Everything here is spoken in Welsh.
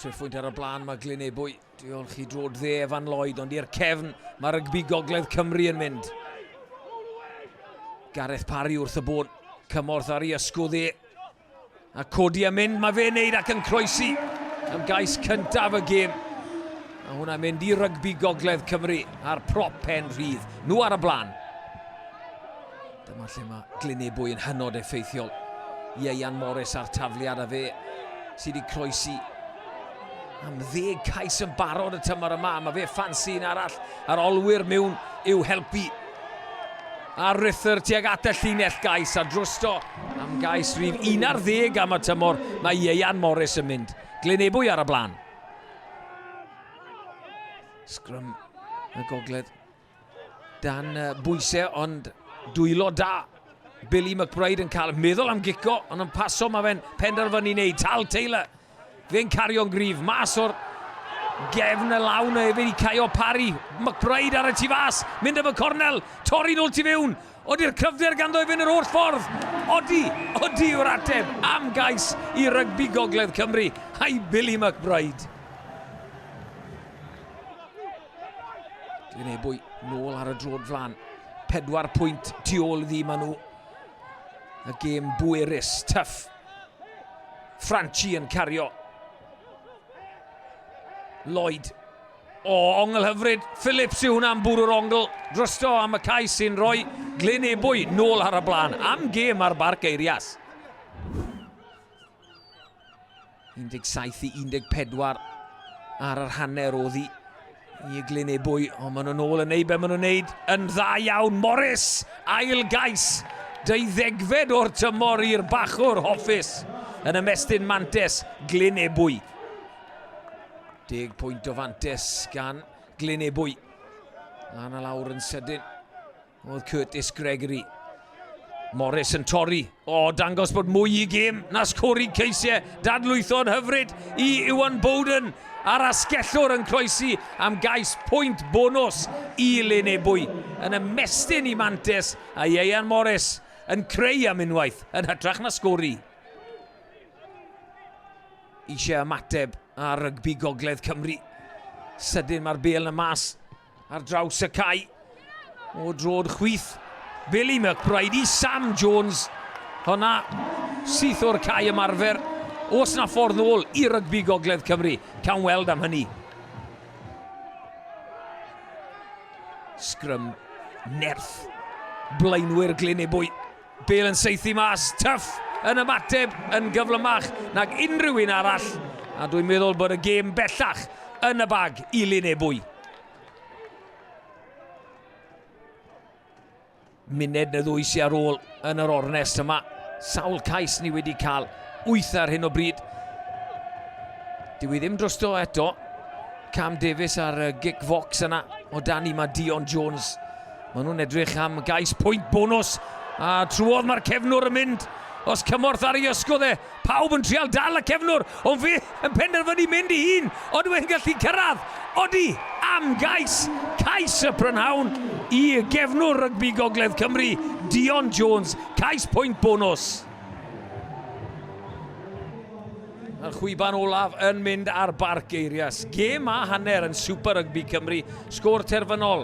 Trefwynt ar y blaen, mae Glyn Ebwy. Diolch i drod dde Evan Lloyd, ond i'r cefn, mae rygbi Gogledd Cymru yn mynd. Gareth Parry wrth y bôn, cymorth ar ei ysgw dde. A codi a mynd, mae fe'n neud ac yn croesi am gais cyntaf y gêm. A hwnna'n mynd i rygbi Gogledd Cymru a'r prop pen rhydd. Nhw ar y blaen. Dyma lle mae Glynebwy yn hynod effeithiol. Ieuan Morris a'r tafliad a fe sydd wedi croesi am ddeg cais yn barod y tymor yma. Mae fe ffansi yn arall ar olwyr mewn i'w helpu. A Ruther tuag at y llinell gais a drosto am gais rhif 11 am y tymor. Mae Ieuan Morris yn mynd. Glynebwy ar y blaen. Sgrym y gogledd Dan bwysau ond dwylo da. Billy McBride yn cael meddwl am gico, ond yn paso mae fe'n penderfynu wneud. Tal Taylor, fe'n cario'n gryf, mas o'r gefn y lawn o efyd i Caio Parry. McBride ar y tu fas, mynd am y cornel, torri'n ôl tu fewn. Odi'r cryfder ganddo i fynd yr holl ffordd. Odi, odi yw'r ateb am gais i rygbi gogledd Cymru. Hai Billy McBride. Dwi'n ei bwy nôl ar y drod flan. Pedwar pwynt tu ôl iddi maen nhw. Y gêm bwerus, tuff. Franchi yn cario. Lloyd. O, ongl hyfryd. Phillips yw hwnna'n bwrw'r ongl. Drosto am y caes sy'n rhoi Glyn Ebwy nôl ar y blaen. Am gêm ar bar geirias. 17 i 14 ar yr hanner o ddi i eglyn ei bwy, ond maen nhw'n ôl yn neud be maen nhw'n neud yn dda iawn. Morris, ail gais, deuddegfed o'r tymor i'r bachwr hoffus yn ymestyn mantes Glyn Ebwy. Deg pwynt o fantes gan Glyn Ebwy. Lan a lawr yn sydyn. Oedd Curtis Gregory. Morris yn torri. O, oh, dangos bod mwy i gym na sgori ceisiau. Dadlwytho'n hyfryd i Iwan Bowden a'r asgellwr yn croesi am gais pwynt bonus i Lenebwy. Yn ymestyn i Mantes a Ieian Morris yn creu am unwaith yn hytrach na sgori. Eisiau ymateb ar rygbi Gogledd Cymru. Sydyn mae'r bel yn y mas. Ar draws y cae o drod chwith. Billy McBride i Sam Jones. Hwna syth o'r cae ymarfer. Os na ffordd nôl i rygbi Gogledd Cymru, cawn weld am hynny. Sgrym nerth. Blaenwyr Glynebwy Bale yn saethu mas, Tuff yn ymateb yn gyflymach nag unrhyw un arall, a dwi'n meddwl bod y gêm bellach yn y bag i Lyn Ebwy. Muned neu ddwy sy'n ar ôl yn yr ornest yma. Sawl cais ni wedi cael wyth ar hyn o bryd. Dwi ddim drosto eto. Cam Davies ar y gic fox yna o dan i mae Dion Jones Maen nhw'n edrych am gais pwynt bonws, a trwodd mae'r cefnwr yn mynd. Os cymorth ar ei ysgol e, pawb yn trial dal y cefnwr, ond fe yn penderfynu mynd i hun, ond mae'n gallu cyrraedd. Odi am gais, cais y prynhawn i gefnwr rygbi Gogledd Cymru, Dion Jones, cais pwynt bonws. Mae'r chwiban olaf yn mynd ar Barc Geirias. Gêm a hanner yn Super Rygbi Cymru, sgôr terfynol.